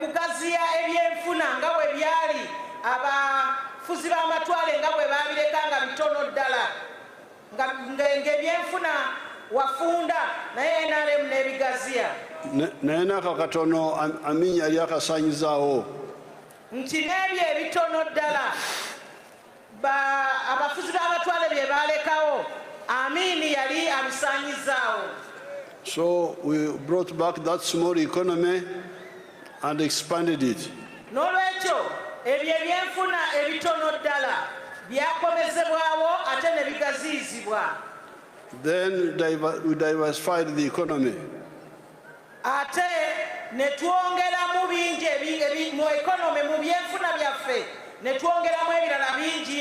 kugaziya ebyenfuna nga bwe byali abafuzi b'amatwale nga bwe baabireka nga bitono ddala ng'ebyenfuna wafunda naye nrm n'ebigaziya naye n'ako katono aminya yali akasaanyizaawo nti n'ebyo ebitono ddala ba abafuzi b'abatwale bye baalekawo Amin yali abisaanyizaawo. So we brought back that small economy and expanded it. N'olwekyo ebyo ebyenfuna ebitono ddala byakomezebwawo ate ne bigaziyizibwa. Then we diversified the economy. ate ne twongeramu bingi mu ekonome mu byenfuna byaffe ne twongeramu ebirala bingi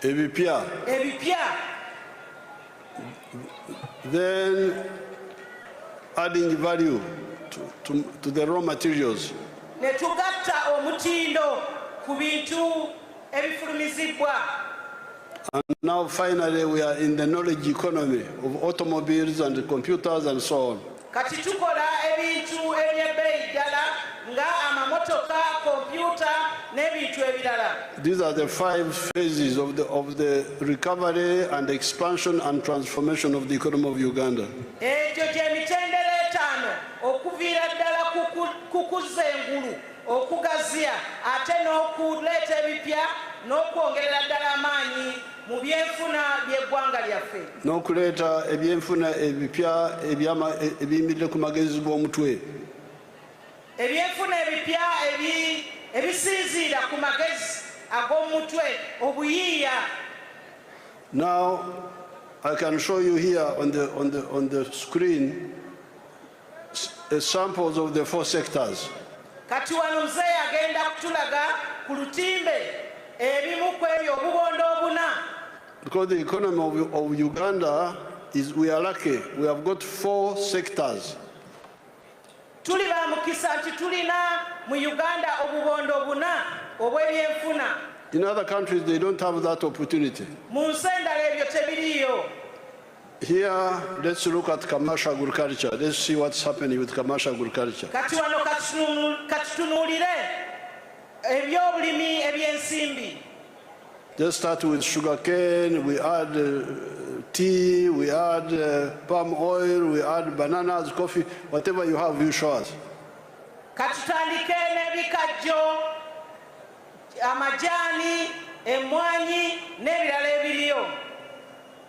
ebipya ebipya then adding value to, to, to the raw materials ne tugatta omutindo ku bintu And now finally we are in the knowledge economy of automobiles and computers and so on. Kati tukola ebintu eby'ebbeeyi ddala nga amamotoka, kompyuta n'ebintu ebirala. These are the five phases of the, of the recovery and expansion and transformation of the economy of Uganda. Egyo gy'emitendera etaano okuviira ddala ku kuzza engulu. okugaziya ate n'okuleeta ebipya n'okwongerera ddala amaanyi mu byenfuna by'eggwanga lyaffe n'okuleeta ebyenfuna ebipya ebiyimiridde ku magezi g'omutwe ebyenfuna ebipya ebisinziira ku magezi ag'omutwe obuyiiya now i can show you here on the, on the, on the screen samples of the four sectors. Kati wano mzee agenda kutulaga ku lutimbe ebimu ku ebyo obubondo obuna. Because the economy of, of Uganda is we are lucky. We have got four sectors. Tuli ba mukisa nti tulina mu Uganda obubondo obuna obw'ebyenfuna. In other countries they don't have that opportunity. Mu nsi endala ebyo tebiriyo. Here, let's look at commercial agriculture. Let's see what's happening with commercial agriculture. Kati wano katutunuulire ebyobulimi ebyensimbi. Let's start with sugar cane, we add uh, tea, we add uh, palm oil, we add bananas, coffee, whatever you have, you show us. Katutandike n'ebikajjo, amajani, emwanyi n'ebirala ebiriyo.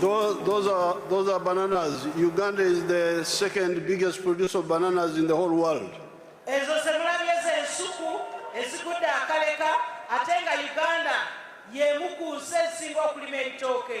Those, those, are, those are bananas. Uganda is the second biggest producer of bananas in the whole world. ezo zemulabye zensuku ezigudde akaleka ate nga uganda yemu ku nsi ezisinga okulima ebitooke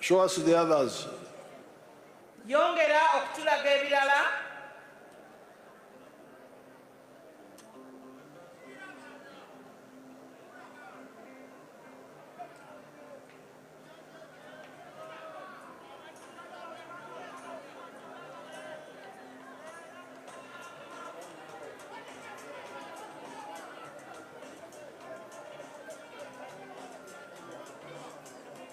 Show us the others. Yongera okutulaga ebirala.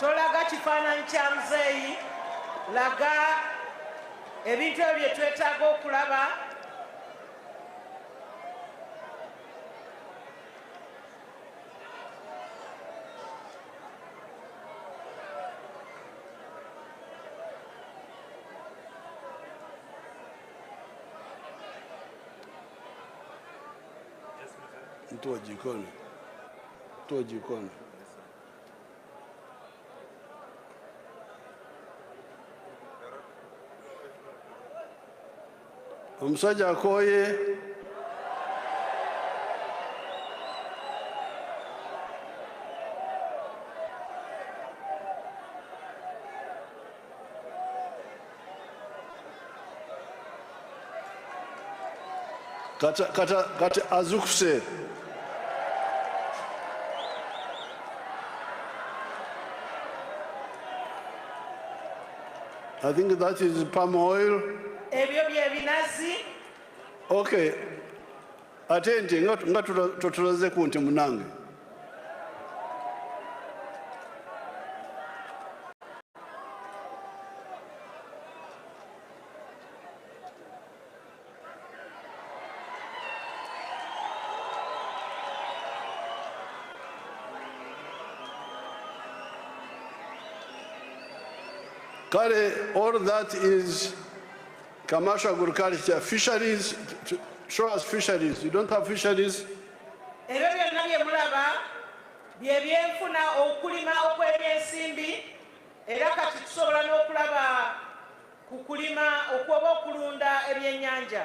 tolaga kifaananyi kya muzeeyi laga ebintu ebyo bye twetaaga okulaba mtu wa jikoni, mtu wa jikoni. omusajja akooye kata kata kati azukuse I think that is palm oil. Okay. ate nti nga totulazeku nti munange kale all that is Commercial agriculture, fisheries, show us fisheries. You don't have fisheries? Ebyo byonna bye mulaba bye byenfuna okulima okw'ebyensimbi era kati tusobola n'okulaba ku kulima okw'oba okulunda ebyennyanja.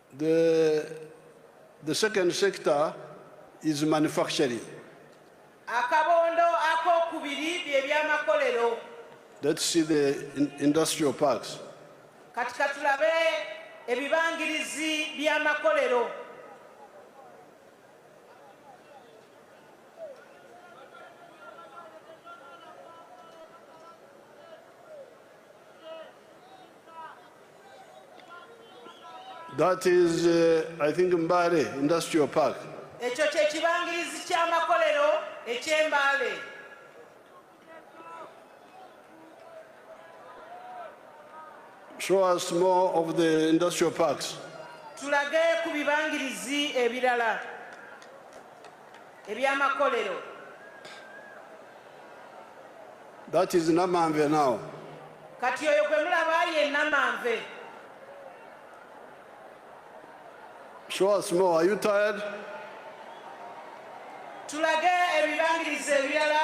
The, the second sector is manufacturing. Akabondo akokubiri bye byamakolero. Let's see the in industrial parks. Kati katulabe ebibangirizi by'amakolero. That is, uh, I think, Mbale Industrial Park. ekyo kye kibangirizi ky'amakolero eky'embaale Show us more of the industrial parks. tulage ku bibangirizi ebirala ebyamakolero that is namanve now kati oyo gwe mulaba ye namanve show us more are you tired tulage ebibangiriza ebirala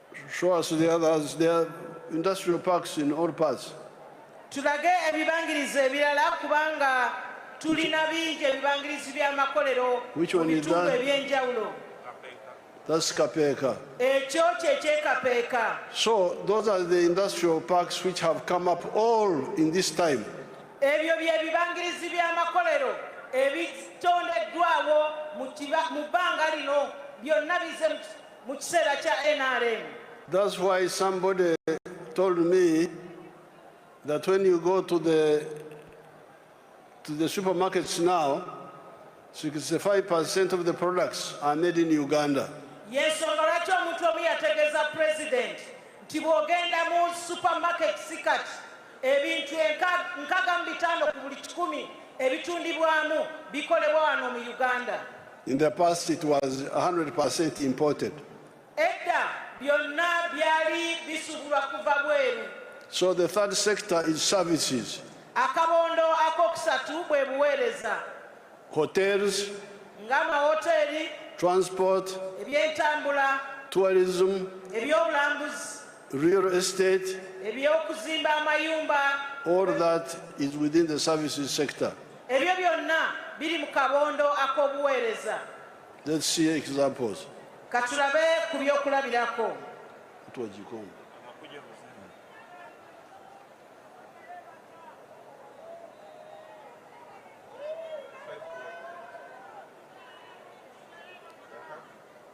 Show us the others. There are industrial parks in all parts. tulage ebibangirizi ebirala kubanga tulina bingi ebibangirizi by'amakolero Which mu one is bitundu that? eby'enjawulo That's Kapeka. ekyo kyekyekapeeka So those are the industrial parks which have come up all in this time. ebyo bye bibangirizi by'amakolero ebitondeddwawo mu kiba- mu bbanga lino byonna bize mu ki- mu kiseera kya nrm That's why somebody told me that when you go to the to the supermarkets now, 65% of the products are made in Uganda. Yes, lwaki omuntu omu yategeeza president nti bw'ogenda mu supermarket sikati Ebintu enkaga mu bitaano ku buli kikumi ebitundibwamu bikolebwa wano mu Uganda. In the past it was 100% imported. Edda byonna byali bisubulwa kuva bweru. So the third sector is services. Akabondo akokusatu bwe buweereza. Hotels. Nga amahoteri. Transport. Ebyentambula. Tourism. Ebyobulambuzi. real estate ebyokuzimba amayumba all that is within the services sector ebyo byonna biri mu kabondo ak'obuweereza let's see examples katulabe ku byokulabirako tuwagikongo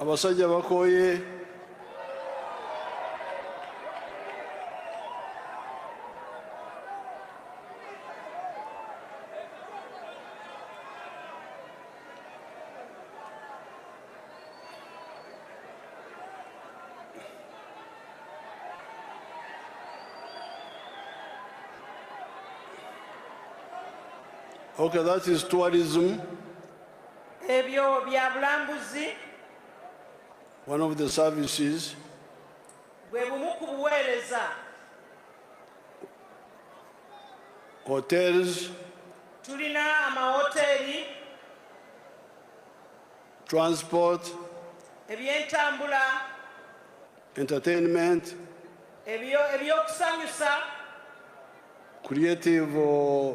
abasajja bakooye Okay, that is tourism. ebyo bya bulambuzi one of the services bwe bumu ku buweereza hotels tulina amawoteri transport ebyentambula entertainment ebyokusanyusa creative uh,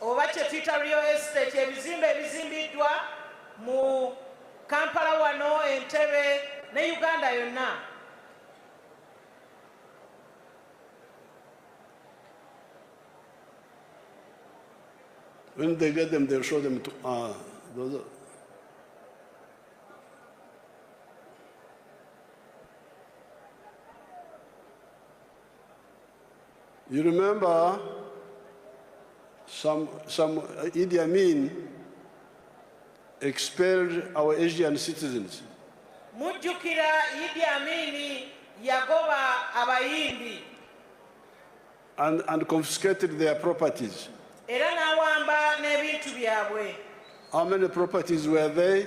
oba kyetuyita real estate ebizimbe ebizimbiddwa mu kampala wano entebe ne uganda yonna When they get them, they'll show them to, uh, those are, You remember some, some uh, Idi Amin expelled our Asian citizens. Mujukira Idi Amin yagoba abayindi. And, and confiscated their properties. Era n'awamba n'ebintu byabwe. How many properties were they?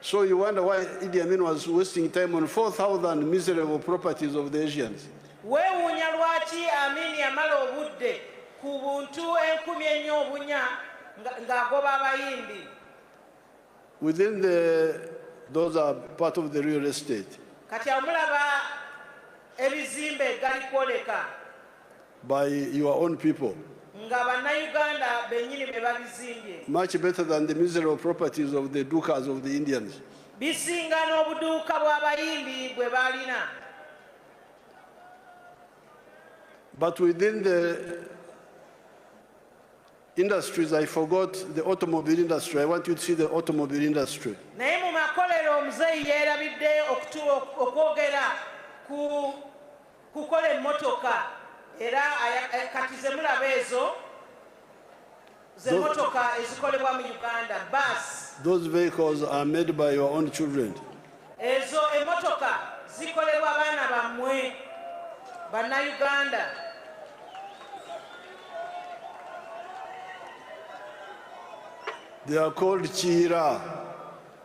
So you wonder why Idi Amin was wasting time on 4,000 miserable properties of the Asians. Weewuunya lwaki Amin yamala obudde ku buntu enkumi ennyo obunya ng'agoba abayimbi. Within the those are part of the real estate. Kati amulaba ebizimbe gali kwoleka. by your own people nga bannayuganda bennyini be babizimbye much better than the miserable properties of the dukas of the indians bisinga n'obuduuka bw'abayimbi bwe baalina but within the industries i forgot the automobile industry i want you to see the automobile industry naye mu makolero omuzeeyi yeerabidde okwogera ku kukola emmotoka era eh, kati zemulaba ezo zemotoka ezikolebwa mu uganda bus those vehicles are made by your own children ezo emotoka zikolebwa baana bammwe bannayuganda they are called kiyira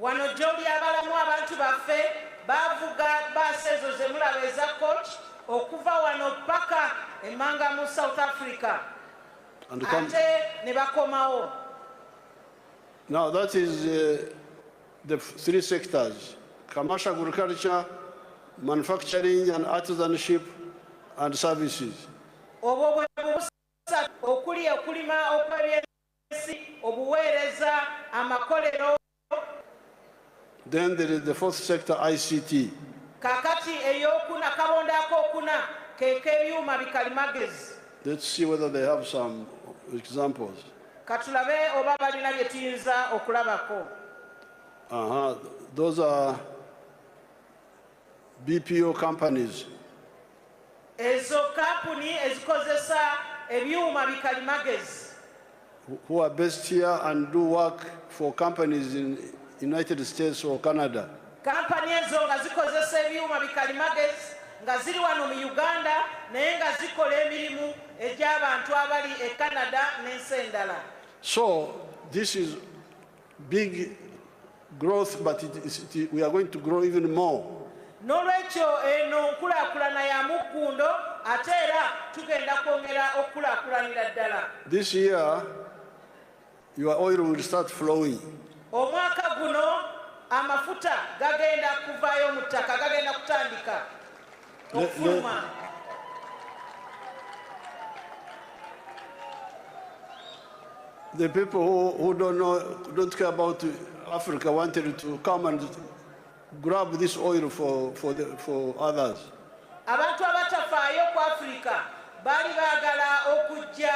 Wano gy'olyabalamu abantu baffe bavuga baasi ezo ze mulaba eza coach okuva wano paka emmanga mu South Africa ate ne bakomawo. Now that is uh, the three sectors, commercial agriculture, manufacturing and artisanship and services. Obwo bwe busatu okuli okulima okw'eby'ensimbi Then there is the fourth sector ICT. Kakati eyokuna kabonda akokuna kekebyuma bikalimagezi. Let's see whether they have some examples. Katulabe oba balina bye tuyinza okulabako. Aha, those are bpo companies ezo kampuni ezikozesa ebyuma bikalimagezi who are based here and do work for companies in united states or canada kampani ezo nga zikozesa ebyuma bikalimagezi nga ziri wano mu uganda naye nga zikola emirimu egy'abantu abali e canada n'ensi endala so this is Big growth but it, it, it, we are going to grow even more. Nolwekyo eno nkulakulana ya muggundo ate era tugenda kwongera okukulakulanira ddala. This year your oil will start flowing. Omwaka guno amafuta gagenda kuvayo mu ttaka gagenda kutandika. okufuluma The people who, who don't know, don't care about Africa wanted to come and grab this oil for, for, the, for others. abantu abatafaayo ku afirika baali baagala okujja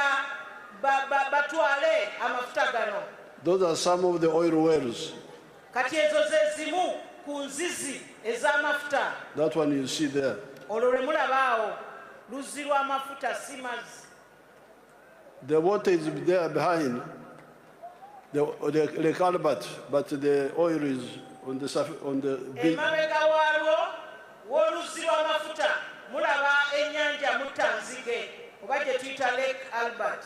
ba- ba- batwale amafuta gano Those are some of the oil wells. Kati ezo ze zimu ku nzizi ez'amafuta. That one you see there. Olwo lwe mulaba awo luzzi lw'amafuta si mazzi. The water is there behind the, the, the calabat, but the oil is on the, on the big. Emabega waalwo w'oluzzi lw'amafuta mulaba ennyanja Muttanzige oba gye tuyita Lake Albert.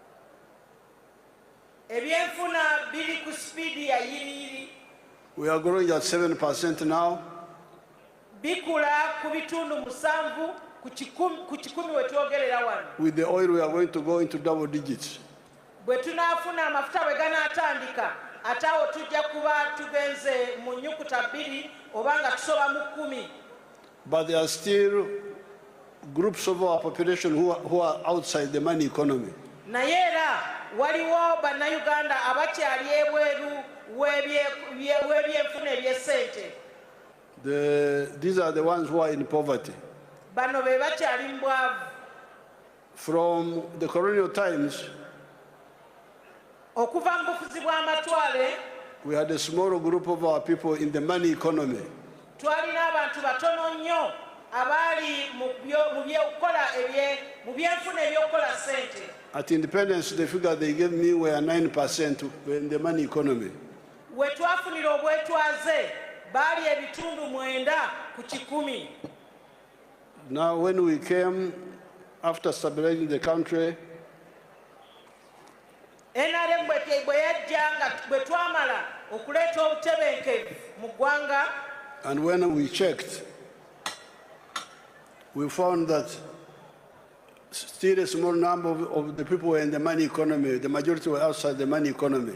ebyenfuna biri ku sipiidi ya yiriyiri We are growing at 7% now. bikula ku bitundu musanvu ku kikum- ku kikumi we twogerera wano With the oil, we are going to go into double digits. bwe tunaafuna amafuta bwe ganaatandika ate awo tujja kuba tugenze mu nnyukuta bbiri oba nga tusoba mu kkumi But there are still groups of our population who are, who are outside the money economy. naye era waliwo bannayuganda abakyali ebweru w'ebyenfuna eby'essente these are the ones who are in poverty bano be bakyali mu bwavu From the colonial times, okuva mu bufuzi bw'amatwale we had a small group of our people in the money economy. twalina abantu batono nnyo abaali mu byo- mu by'okukola ebye- mu byenfuna eby'okukola ssente At independence, the figure they gave me were 9% in the money economy. we twafunira obwetwaze baali ebitundu mwenda ku kikumi Now when we came after stabilizing the country NRM bwe yajja nga bwe twamala okuleeta obutebenkevu mu ggwanga and when we checked we found that Still a small number of, of the people were in the money economy. The majority were outside the money economy.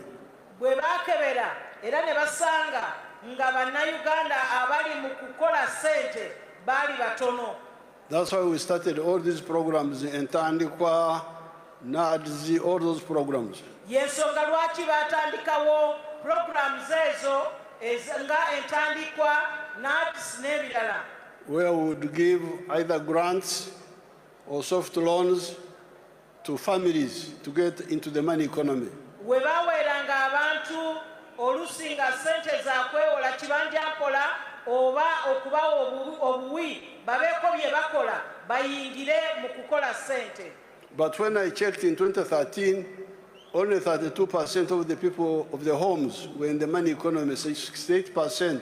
bwe baakebera era ne basanga nga bannayuganda abali mu kukola ssente baali batono That's why we started all these programs in Tandikwa, NADZ, all those programs. y'ensonga lwaki baatandikawo pulogulaamu zeezo ez- nga entandikwa nats n'ebirala Where we would give either grants or soft loans to families to get into the money economy. we baweeranga abantu olusi nga ssente za kwewola kibanja mpola oba okubawa obuwi babeeko bye bakola bayingire mu kukola ssente But when I checked in 2013, only 32% of the people of the homes were in the money economy, 68%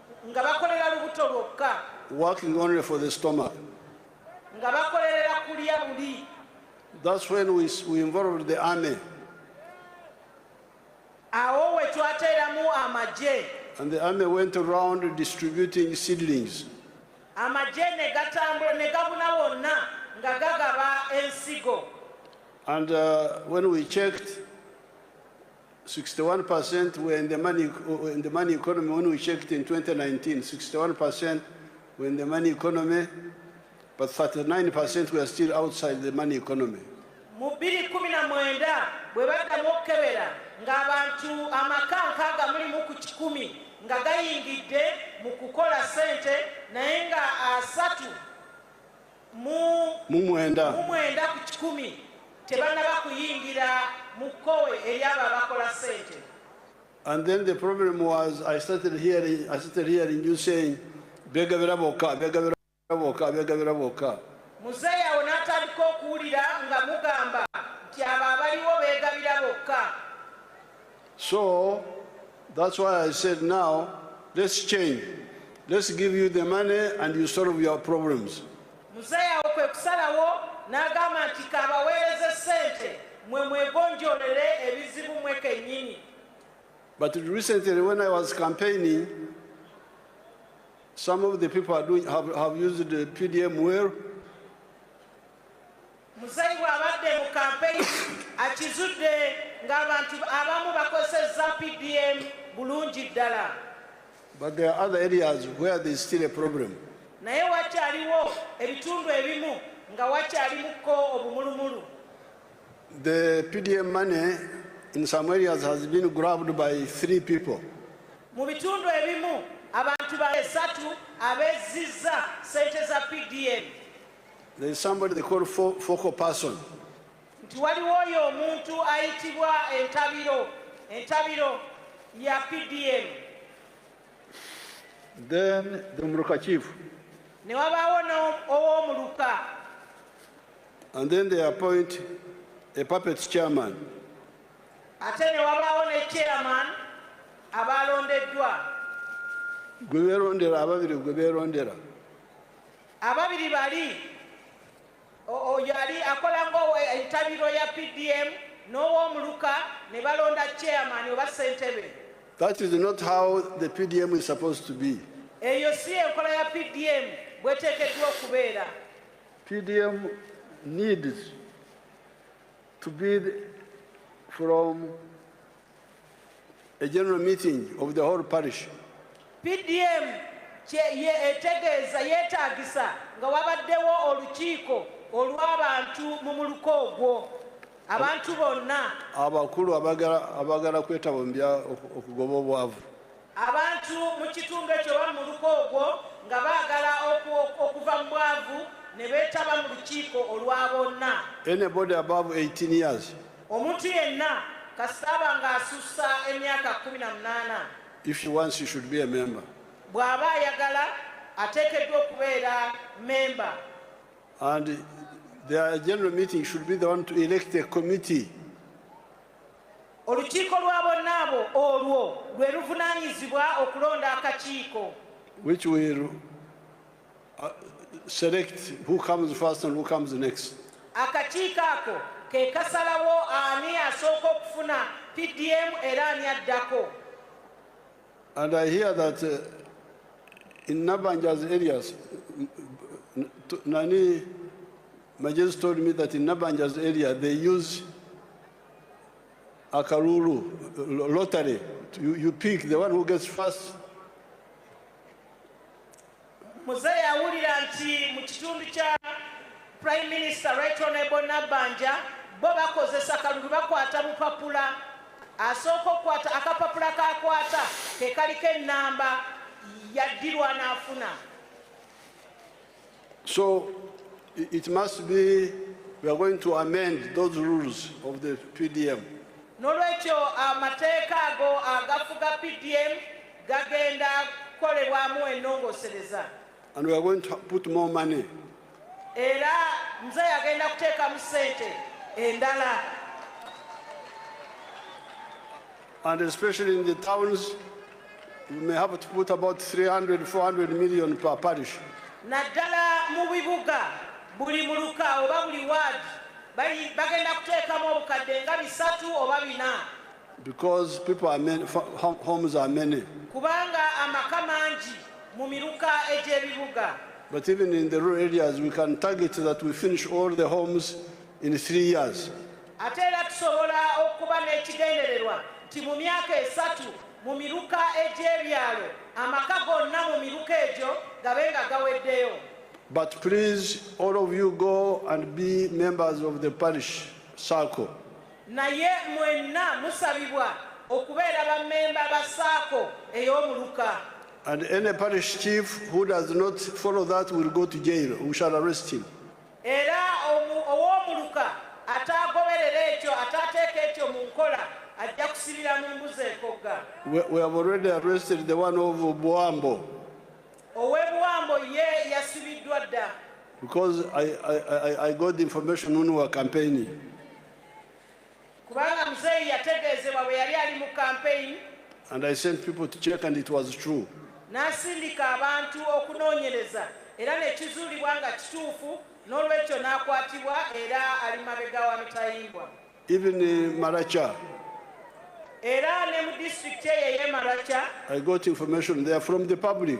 nga bakolera lubuto lwokka working only for the stomach nga bakolerera kulya buli that's when we, we involved the army awo we twateeramu amagye and the army went around distributing seedlings amagye ne gatambula ne gabuna wonna nga gagaba ensigo and uh, when we checked 61% were in the money, uh, in the money economy when we checked in 2019. 61% were in the money economy, but 39% were still outside the money economy. mu bbiri kumi na mwenda bwe baddamu okukebera ng'abantu amaka nkaaga mulimu ku kikumi nga gayingidde mu kukola ssente naye nga asatu mu mwenda ku kikumi tebanaba kuyingira mu kkowe eryabo abakola sente And then the problem was I started hearing, I started hearing you saying, Bega vera boka, bega vera boka, bega vera boka. Muzeyi awo natandika okuwulira nga mugamba nti abo abaliwo beegabira bokka So that's why I said now let's change. Let's give you the money and you solve your problems. Muzeeyi awo kwe kusalawo n'agamba nti kabaweereze ssente mwe mwegonjolere ebizibu mwe kennyini. But recently when I was campaigning some of the people are doing, have, have used the PDM well. Muzeeyi bw'abadde mu kampeyini akizudde ng'abantu abamu bakozesezza PDM bulungi ddala. But there are other areas where there is still a problem. Naye wakyaliwo ebitundu ebimu nga wakyalimuko obumulumulu. The PDM money in some areas has been grabbed by three people. Mu bitundu ebimu abantu basatu abezzizza sente za PDM. nti waliwo oyo omuntu ayitibwa entabiro entabiro ya pdm then the muluka chief ne wabaawo ow'omuluka and then they appoint a puppet chairman ate ne wabaawo ne chairman abaalondeddwa gwe beerondera ababiri gwe beerondera Ababiri bali oyo ali akola ngaentabiro ya PDM n'owomuluka ne balonda chairman oba ssentebe. That is not how the PDM is supposed to be. Eyo si enkola ya PDM bweteekeddwa okubeera. PDM needs to be from A general meeting of the whole parish. PDM ye etegeeza yeetaagisa nga wabaddewo olukiiko olw'abantu mu muluka ogwo abantu bonna abakulu abagala kwetaba mu bya okugoba obwavu Abantu mu kitundu ekyo oba mu muluka ogwo nga baagala okuva mu bwavu ne beetaba mu lukiiko olwa bonna. Anybody above 18 years. Omuntu yenna kasita aba ng'asussa emyaka kkumi na munaana. If she wants, she should be a member. Bw'aba ayagala ateekeddwa okubeera memba. And their general meeting should be the one to elect a committee. Olukiiko lwa bonna abo olwo lwe luvunaanyizibwa okulonda akakiiko. Which will uh, select who comes first and who comes next. Akakiiko ako ke kasalawo ani asooka okufuna PDM era ani addako. And I hear that uh, in Nabanja's areas, nani My just told me that in Nabanja's area they use Akaruru lottery. You, you pick the one who gets first. Mzee yawulira nti mu kitundu kya Prime Minister Right Honorable Nabbanja bo bakozesa kalulu bakwata bupapula asooka okukwata akapapula kakwata ke kaliko ennamba yaddirwa n'afuna So it must be we are going to amend those rules of the PDM. Nolwekyo amateeka ago agafuga PDM gagenda kukolebwamu enongosereza. And we are going to put more money. Era mzee agenda kuteekamu sente endala. And especially in the towns, you may have to put about 300, 400 million per parish. naddala mu bibuga buli muluka oba buli ward bagenda kuteekamu obukadde nga bisatu oba bina because people are many, homes are many kubanga amaka mangi mu miruka egy'ebibuga but even in the rural areas we can target that we finish all the homes in three years Ate era tusobola okuba n'ekigendererwa nti mu myaka esatu mu miruka egy'ebyalo amaka gonna mu miruka egyo gabe nga gaweddeyo. But please all of you go and be members of the parish circle. Naye mwenna musabibwa okubeera ba memba ba saako ey'omuluka. And any parish chief who does not follow that will go to jail. We shall arrest him. Era omu ow'omuluka ataagoberera ekyo ataateeka ekyo mu nkola ajja kusibira mu mbuzi ekogga. We, we have already arrested the one of Buambo Ow'ebuwambo ye yasibiddwa dda because I, I, I, I got the information when we were campaigning. kubanga muzeeyi yategeezebwa bwe yali ali mu kampeyini and I sent people to check and it was true n'asindika abantu okunoonyereza era ne kizuulibwa nga kituufu n'olwekyo n'akwatibwa era ali mabega wa mitayimbwa even uh, maracha era ne mu disitulikiti eyo ey'e maracha I got information there from the public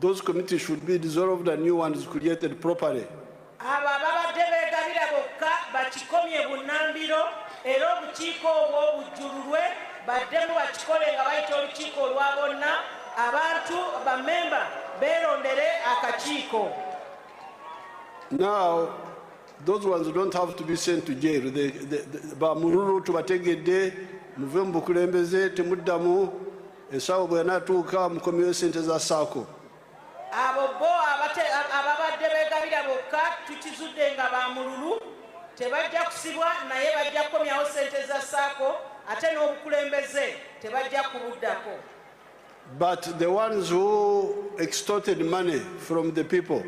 Those committees should be dissolved and new ones created properly. Abo ababadde beegabira bokka bakikomye bunnambiro era obukiiko obwo bujjululwe baddemu bakikole nga bayita olukiiko olwa bonna abantu bamemba beerondere akakiiko. Now, those ones don't have to be sent to jail. They, they, they, ba mululu tubategedde muve mu bukulembeze temuddamu esawo bwenatuuka mukomyewo sente za saako abo bo ababadde begabira bokka tukizudde nga bamululu tebajja kusibwa naye bajja kukomyawo sente za saako ate n'obukulembeze tebajja kubuddako but the ones who extorted money from the people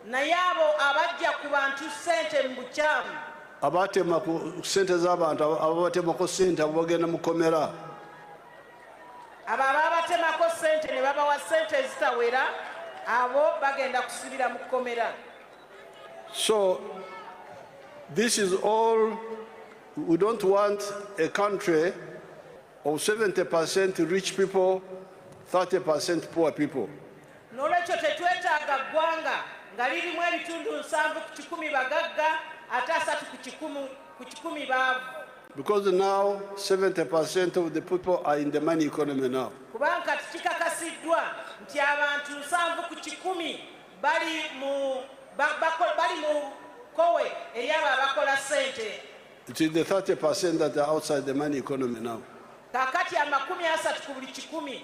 naye abo abajja ku bantu sente mu bukyamu abatema ku sente z'abantu ababatemako sente abo bagenda mukomera abo ababatemako sente ne babawa sente ezitawera abo bagenda kusibira mu kkomera so this is all we don't want a country of 70 percent rich people 30 percent poor people N'olwekyo tetwetaaga ggwanga nga lirimu ebitundu nsanvu ku kikumi bagagga ate asatu ku kikumu ku kikumi baavu. Because now 70% of the people are in the money economy now. Kubanga kati kikakasiddwa nti abantu nsanvu ku kikumi bali mu bali mu kowe eryabo abakola sente. It is the 30% that are outside the money economy now. Kakati amakumi asatu ku buli kikumi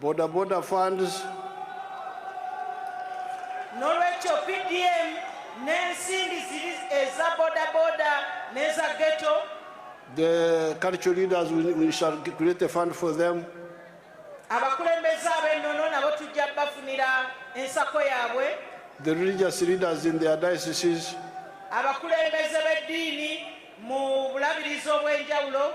Boda boda funds. Nolwekyo PDM n'ensimbi ziri eza boda boda n'eza ghetto. The cultural leaders we, we shall create a fund for them. Abakulembeze ab'ennono nabo tujja bafunira ensako yaabwe. The religious leaders in their dioceses. Abakulembeze b'eddiini mu bulabirizi obw'enjawulo.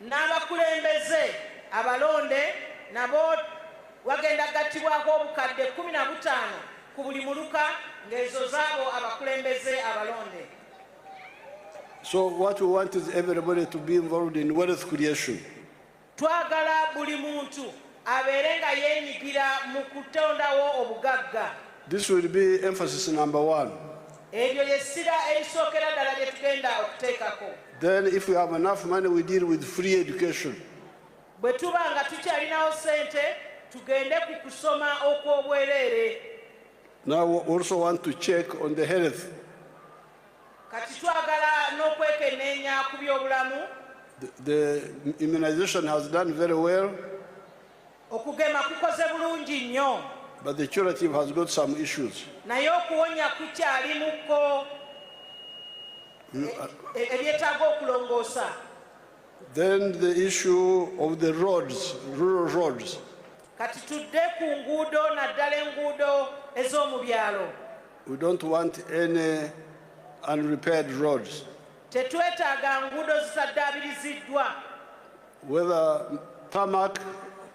N'abakulembeze abalonde nabo wagenda kugattibwako obukadde kkumi na butaano ku buli muluka ng'ezo zaabo abakulembeze abalonde. So what we want is everybody to be involved in wealth creation. Twagala buli muntu abeere nga yeenyigira mu kutondawo obugagga. This will be emphasis number one. Ebyo ly'essira erisookera ddala lye tugenda okuteekako. Then if we have enough money we deal with free education. Bwe tuba nga tukyalinawo ssente tugende ku kusoma okw'obwereere. Now we also want to check on the health. Kati twagala n'okwekenneenya ku byobulamu. The immunization has done very well. Okugema kukoze bulungi nnyo. But the curative has got some issues. Naye okuwonya kukyalimuko mm, uh, e, e, ebyetaaga okulongoosa. Then the issue of the roads, rural roads. Kati tudde ku nguudo naddala enguudo ez'omu byalo. We don't want any unrepaired roads. Tetwetaaga nguudo zisaddaabiriziddwa. Whether tarmac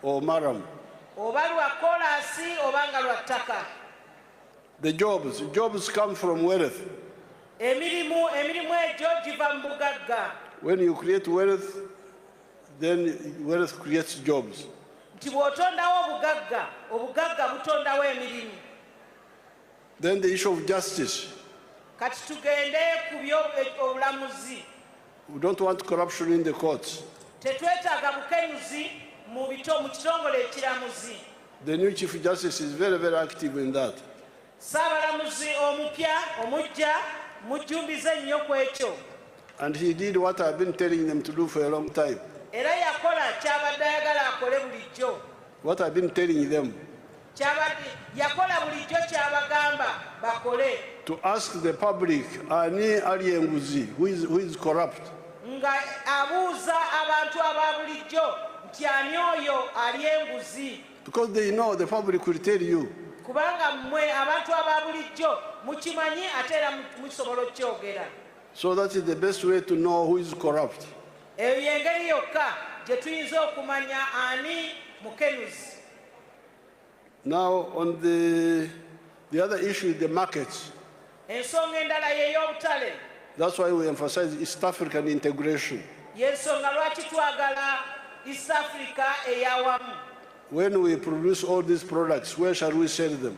or maram. Oba lwa kolaasi oba nga lwa ttaka. The jobs, jobs come from wealth. Emirimu, emirimu egyo giva mu bugagga. When you create wealth, then wealth creates jobs. Nti bw'otondawo obugagga, obugagga butondawo emirimu. Then the issue of justice. Kati tugende ku by'obulamuzi. We don't want corruption in the courts. Tetwetaaga bukenuzi mu bito mu kitongole ekiramuzi. The new Chief Justice is very, very active in that. Saabalamuzi omupya omujja mujjumbize nnyo ku ekyo. And he did what I've been telling them to do for a long time. Era yakola ky'abadde ayagala akole bulijjo. What I've been telling them. Kyabadde yakola bulijjo kyabagamba bakole. To ask the public ani ali enguzi who is, who is corrupt. Nga abuuza abantu aba bulijjo nti ani oyo ali enguzi. Because they know the public will tell you. Kubanga mwe abantu aba bulijjo mukimanyi ate era musobola okukyogera. So that is the best way to know who is corrupt. Eyo yengeri yokka gye tuyinza okumanya ani mukenuzi. Now on the, the other issue is the markets. Ensonga endala y'ey'obutale. That's why we emphasize East African integration. Y'ensonga lwaki twagala East Africa eyawamu. When we produce all these products, where shall we sell them?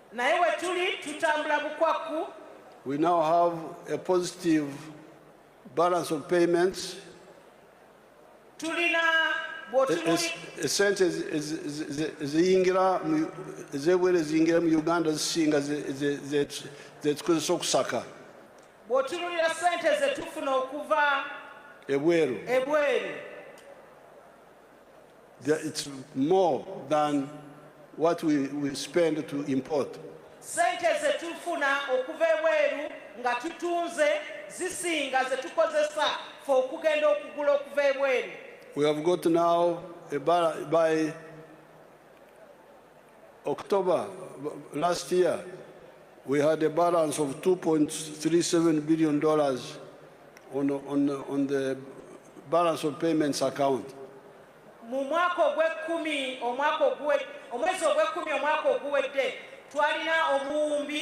naye wetuli tutambula bukwakku we now have a positive balance of payments tulina esente eziyingira ezebwera eziyingira mu uganda zisinga zetukozesa okusaka bwotunulira sente zetufuna okuva ebweru ebweru It's more than what we, we spend to import. Sente ze tufuna okuva ebweru nga tutunze zisinga ze tukozesa fe okugenda okugula okuva ebweru. We have got now a buy October last year, we had a balance of $2.37 billion on, on, on the balance of payments account. mu mwaka ogw'ekkumi omwaka omwezi ogw'ekkumi omwaka oguwedde twalina obuwumbi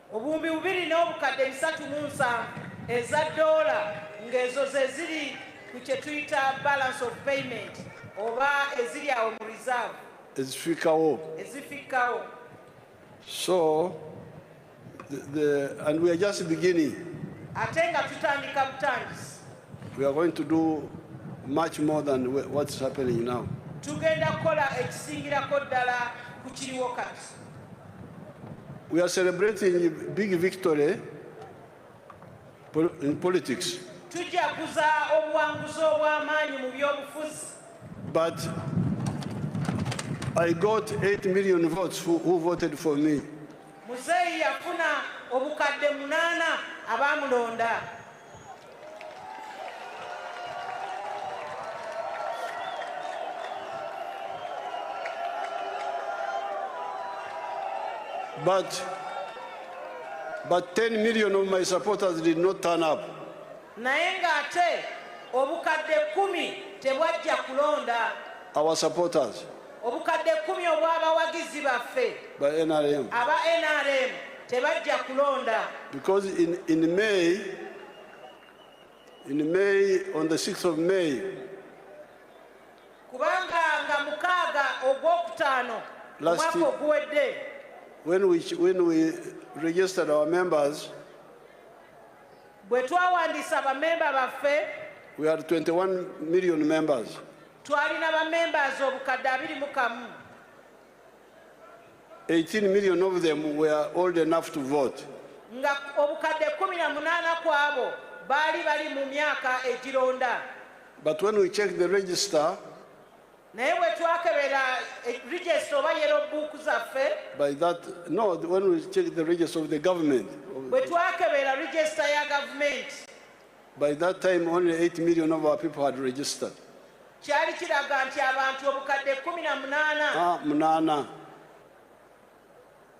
obuwumbi bubiri n'obukadde bisatu mu nsanvu eza doola ng'ezo ze ziri ku kye tuyita balance of payment oba eziri awo mu reserve ezifikkawo ezifikkawo so the, the, and we are just beginning ate nga tutandika butandisi we are going to do much more than what's happening now tugenda kukola ekisingirako ddala ku kiriwo kati We are celebrating big victory in politics. Tujaguza obuwanguzi obw'amaanyi mu by'obufuzi. But I got 8 million votes who, who voted for me. Muzeeyi yafuna obukadde munaana abaamulonda. But, but 10 million of my supporters did not turn up. naye ng'ate obukadde kumi tebwajja kulonda Our supporters. Obukadde kkumi obw'abawagizi baffe ba NRM. aba NRM tebajja kulonda. Because in, in May, in May, on the 6th of May, kubanga nga mukaaga ogwokutaano omwaka oguwedde when we, when we registered our members, bwe twawandiisa bamemba baffe we had 21 million members. Twalina ba members obukadde abiri mu kamu. 18 million of them were old enough to vote. Nga obukadde 18 kwabo baali bali mu myaka egironda. But when we check the register, naye bwe twakebera eh, register oba yero buuku zaffe by that no when we check the register of the government bwe twakebera register ya gavumenti By that time only 8 million of our people had registered. Kyali kiraga nti abantu obukadde 18. Ah, munana.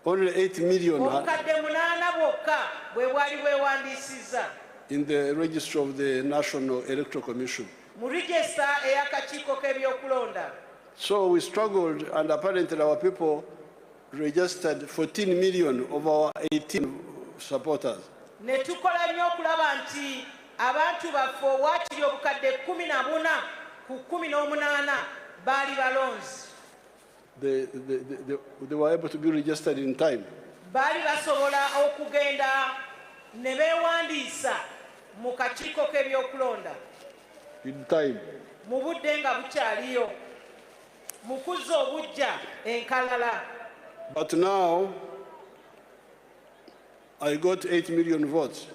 Only 8 million. Obukadde munana bwokka bwe bwali bwewandisiza. In the register of the National Electoral Commission. Mu register eyakakiiko k'ebyokulonda. So we struggled and apparently our people registered 14 million of our 18 supporters. Ne tukola nnyo okulaba nti abantu baffe owaakiri obukadde kkumi na buna ku kkumi n'omunaana baali balonzi. They, they, they, they were able to be registered in time. Baali basobola okugenda ne beewandiisa mu kakiiko k'ebyokulonda. In time. Mu budde nga bukyaliyo. mu kuzza obuggya enkalala but now i got 8 million votes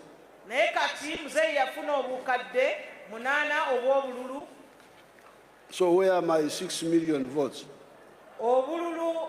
naye kati muzeeyi yafuna obukadde munaana obw'obululu so where my 6 million votes obululu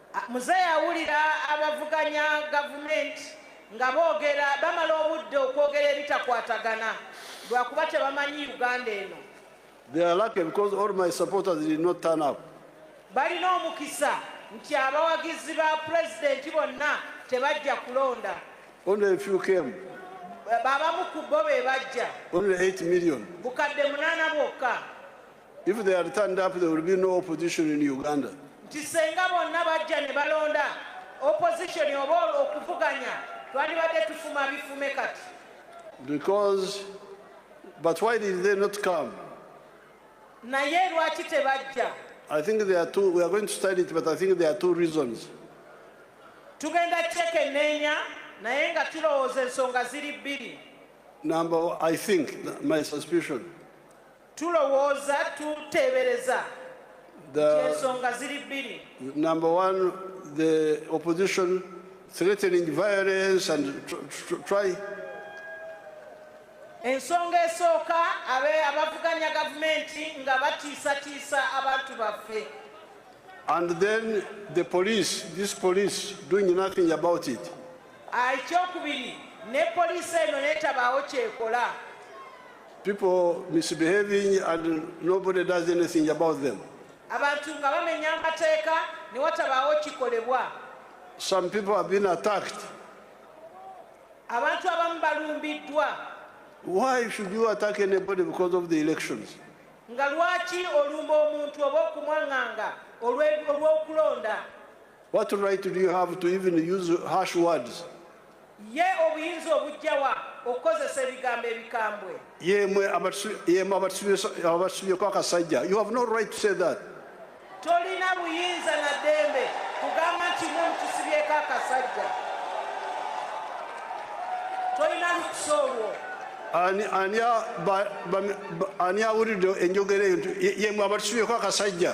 Muzeeyi awulira abavuganya gavumenti nga boogera bamala obudde okwogera ebitakwatagana lwakuba tebamanyi Uganda eno. They are lucky because all my supporters did not turn up. Balina omukisa nti abawagizi ba pulezidenti bonna tebajja kulonda. Only a few came. Babamu ku bo be bajja. Only 8 million. Bukadde munaana bwokka. If they are turned up, there will be no opposition in Uganda. Nti senga bonna bajja ne balonda opposition oba okuvuganya twandibadde tufuma bifume kati. Because but why did they not come? Naye lwaki tebajja? I think there are two we are going to study it but I think there are two reasons. Tugenda kyekenneenya naye nga tulowooza ensonga ziri bbiri. Number I think my suspicion tulowooza tuteebereza ensonga ziri bbiri number one the opposition threatening violence and try ensonga esooka abe abavuganya gavumenti nga batiisatiisa abantu baffe and then the police this police doing nothing about it ah, ekyokubiri ne poliisi eno netabaawo kyekola People misbehaving and nobody does anything about them. Abantu nga bamenya amateeka ne watabaawo kikolebwa. Some people have been attacked. Abantu abamu balumbiddwa. Why should you attack anybody because of the elections? Nga lwaki olumba omuntu oba okumwang'anga olw'okulonda? What right do you have to even use harsh words? Ye obuyinza obujja wa okukozesa ebigambo ebikambwe? Yemwe abatusibye kwakasajja, you have no right to say that. Tolina buyinza na dembe kugamba nti mwe mutusibyeko akasajja, tolina lukusa olwo. Ani awulidde enjogera eyo nti yemwe abatusibyeeko akasajja?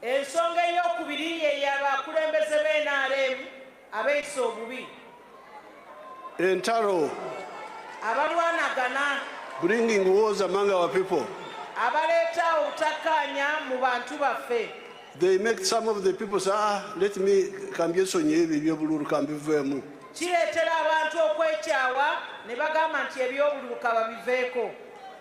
Ensonga ey'okubiri ye ya bakulembeze be NRM abeeyisa obubi. Entalo. Abalwanagana. Bringing wars among our people. Abaleeta obutakkaanya mu bantu baffe. They make some of the people say, ah, let me kambyesonye ebyo eby'obululu kambiveemu. Kireetera abantu okwekyawa ne bagamba nti eby'obululu kababiveeko.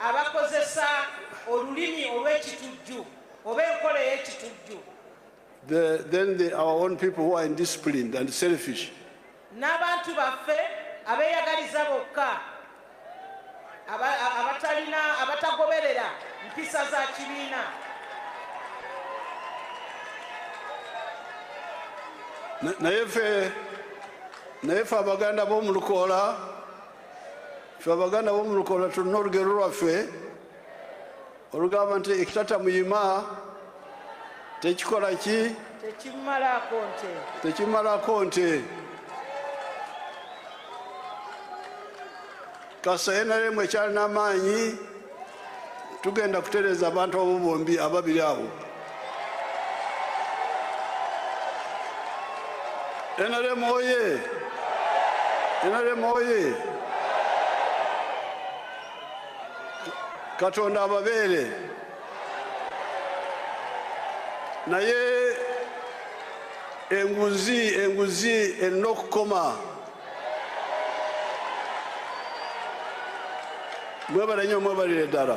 abakozesa olulimi olw'ekitujju oba enkola ey'ekitujju the, then the, our own people who are indisciplined and selfish. n'abantu baffe abeeyagaliza bokka aba- a- abatalina abatagoberera mpisa za kibiina Na- naye ffe naye ffe abaganda b'omu lukoola ffe abaganda bomu lukola tulina olugero lwaffe olugamba nti ekitata muyima tekikola ki tekimalako nte kasa enaremu ekyalina amaanyi tugenda kutereeza abantu abo bombi ababiri abo nrm oye nrm oye katonda ababeere naye enguzi enguzi erina okukoma mwebale nyo mwebalire ddala